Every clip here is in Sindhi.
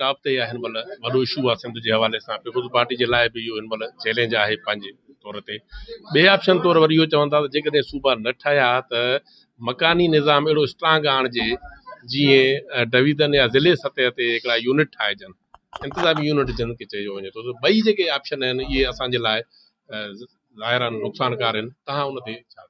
ٽاپ تي اها هن مهل وڏو اشو آهي سنڌ جي حوالي سان پيپلز پارٽي جي لاء به اهو هن مهل چئلينج آهي پنهنجي طور تي ٻئي آپشن طور وري اهو چون ٿا ته جيڪڏهن صوبا نه ٺهيا ته مڪاني نظام اهڙو اسٽرانگ آڻجي جيئن ڊويزن يا ضلعي سطح تي هڪڙا يونٽ ٺاهجن انتظامي يونٽ جن کي چيو وڃي ٿو ته ٻئي جيڪي آپشن آهن اهي اسان جي لاء ظاهرا نقصانڪار آهن تهان ان تي ڇا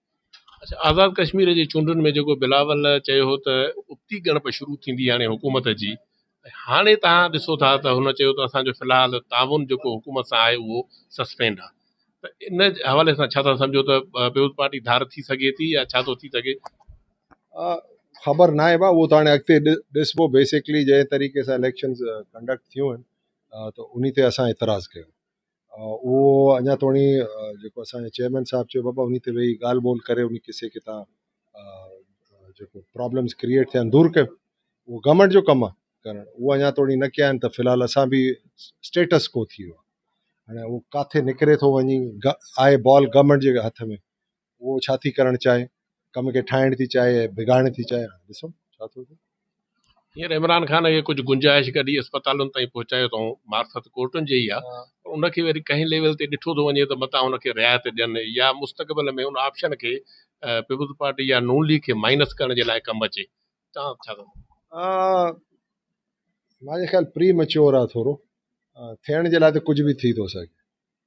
آزاد ڪشمير جي چونڊن ۾ جيڪو بلاول چيو هو ته ابتي ڳڻپ شروع ٿيندي هاڻي حڪومت جي ۽ هاڻي توهان ڏسو ٿا ته هن چيو ته اسان جو في الحال تعاون جيڪو حڪومت سان آهي اهو سسپينڊ آهي ته ان حوالي سان ڇا ٿا سمجهو ته پيپلز پارٽي ڌار ٿي سگهي ٿي يا ڇا ٿو ٿي سگهي خبر ناهي بابا اهو ته هاڻي اڳتي ڏسبو بيسڪلي جنهن طريقي سان اليڪشنز ڪنڊڪٽ ٿيون آهن ته ان تي اسان اعتراض ڪيو اهو اڃا توڻي جيڪو اسان جي چيئرمين صاحب چيو بابا انهي تي ويهي ڳالهه ٻولهه ڪري انهي قصي کي تان جيڪو پرابلمس ڪريئيٽ ٿيا آهن دور ڪيو اهو گورمينٽ جو ڪم آهي ڪرڻ اهو اڃا توڻي نه ڪيا آهن ته في الحال اسان به اسٽيٽس ڪو ٿي ويو هاڻي اهو ڪاٿي نڪري ٿو وڃي آهي بال گورمينٽ جي هٿ ۾ اهو ڇا ٿي ڪرڻ چاهي ڪم کي ٺاهڻ ٿي چاهي يا بگاڙڻ ٿي چاهي ڏسون ڇا ٿو ٿئي. هينئر عمران خان کي ڪجهه گنجائش ڪڍي اسپتالن تائين پهچايو اٿئون، مارفت ڪورٽن جي ئي آهي پر ان کي وري ڪنهن ليول تي ڏٺو ٿو وڃي ته متان ان کي رعايت ڏين يا مستقبل ۾ ان آپشن کي پيپلز پارٽي يا نون ليگ کي مائنس ڪرڻ جي لاء ڪم اچي توهان ڇا ٿا چئو؟ مانجي خيال پري ميچيور آهي ٿورو ٿيڻ جي لاء ته ڪجهه به ٿي ٿو سگهي.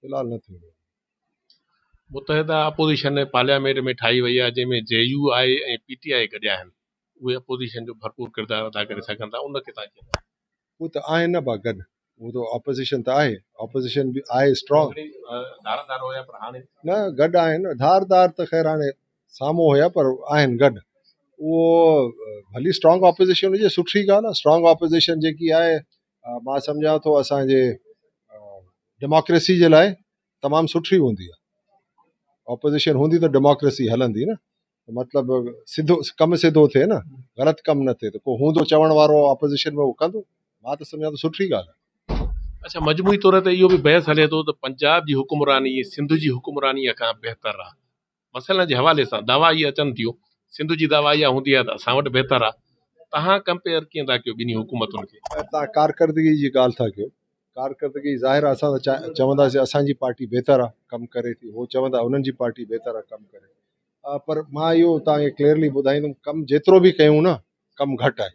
في الحال نه ٿيڻي آهي. متحده اپوزيشن پارليامينٽ ۾ ٺاهي وئي آهي جنهن ۾ J U I ۽ P T I گڏيا آهن اهي اپوزيشن جو ڀرپور ڪردار ادا ڪري سگهن ٿا ان کي تان ڪيئن هو ته آهن نه با گڏ هو ته اپوزيشن ته آهي اپوزيشن به آهي اسٽرانگ ڌار ڌار هيا پر هاڻي نه گڏ آهن ڌار ڌار ته خير هاڻي سامهون هيا پر آهن گڏ اهو ڀلي اسٽرانگ اپوزيشن هجي سٺي ڳالهه اسٽرانگ اپوزيشن جيڪي آهي مان سمجهان ٿو اسان جي ڊيموڪريسي جي لاء تمام سٺي هوندي آهي اپوزيشن هوندي ته ڊيموڪريسي هلندي نه مطلب سڌو ڪم سڌو ٿئي نه غلط ڪم نه ٿئي ته ڪو هوندو چوڻ وارو اپوزيشن ۾ هو ڪندو مان ته سمجهان ٿو سٺي ڳالهه آهي اچا مجموعي طور تي اهو به بحث هلي ٿو ته پنجاب جي حڪمراني سنڌ جي حڪمرانيء کان بهتر آهي مسئلن جي حوالي سان دعويٰ اهي اچن ٿيون، سنڌ جي دعويٰ اها هوندي آهي ته اسان وٽ بهتر آهي، توهان ڪمپيئر ڪيئن ٿا ڪيو ٻنهي حڪومتن کي؟ توهان ڪارڪردگي جي ڳالهه ٿا ڪيو، ڪارڪردگي ظاهر آهي اسان ته چونداسين اسان جي پارٽي بهتر آهي ڪم ڪري ٿي، هو چوندا انهن جي پارٽي بهتر آهي ڪم ڪري ٿي، پر مان اهو توهان کي ڪليئرلي ٻڌائيندم ڪم جيترو به ڪيون نه ڪم گهٽ آهي.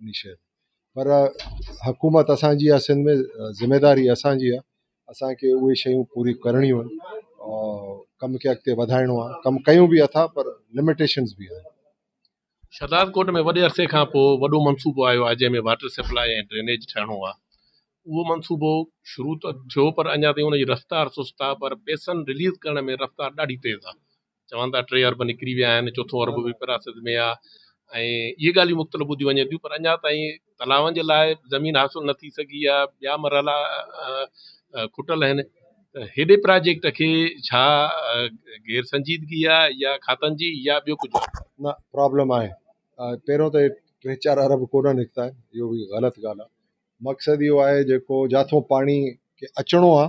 انهي شيء تي پر حڪومت اسان جي آهي سنڌ ۾ ذميواري اسان جي آهي اسان کي اهي شيون پوري ڪرڻيون آهن ۽ ڪم کي اڳتي وڌائڻو آهي ڪم ڪيون به اٿا پر لمٽيشنز به آهن شھداد ڪوٽ ۾ وڏي عرصي کان پوء وڏو منصوبو آيو آهي جنهن ۾ واٽر سپلاء ۽ ڊرينيج ٺهڻو آهي اهو منصوبو شروع ته ٿيو پر اڃا تائين ان جي رفتار سست آهي پر پئسن رليز ڪرڻ ۾ رفتار ڏاڍي تيز آهي چون ٿا ٽي ارب نڪري ويا آهن چوٿون ارب به پراسد ۾ آهي ۽ اهي ڳالهيون مختلف ٻڌيون وڃن ٿيون پر اڃا تائين تلاون جي لاء زمين حاصل نه ٿي سگهي آهي ٻيا مرحلا کٽل آهن هيڏي پراجيڪٽ کي ڇا غير سنجيدگي آهي يا کاتن جي يا ٻيو ڪجهه نه پرابلم آهي پهريون ته ٽي چار ارب ڪونه نڪتا آهن اهو به غلط ڳالهه آهي مقصد اهو آهي جيڪو جاٿو پاڻي کي اچڻو آهي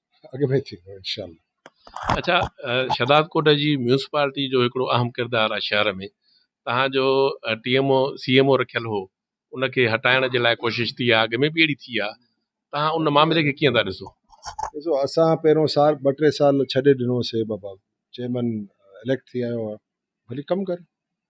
اڳ ۾ ٿيندو انشاء الله. اچا شھداد ڪوٽ جي ميونسپالٽي جو هڪڙو اهم ڪردار آهي شهر ۾ توهان جو T M O C M O رکيل هو ان کي هٽائڻ جي لاء ڪوشش ٿي آهي اڳ ۾ به اهڙي ٿي آهي توهان ان معاملي کي ڪيئن ٿا ڏسو؟ ڏسو اسان پهريون سال ٻه ٽي سال ڇڏي ڏنوسي بابا چيئرمين اليڪٽ ٿي آيو آهي ڀلي ڪم ڪري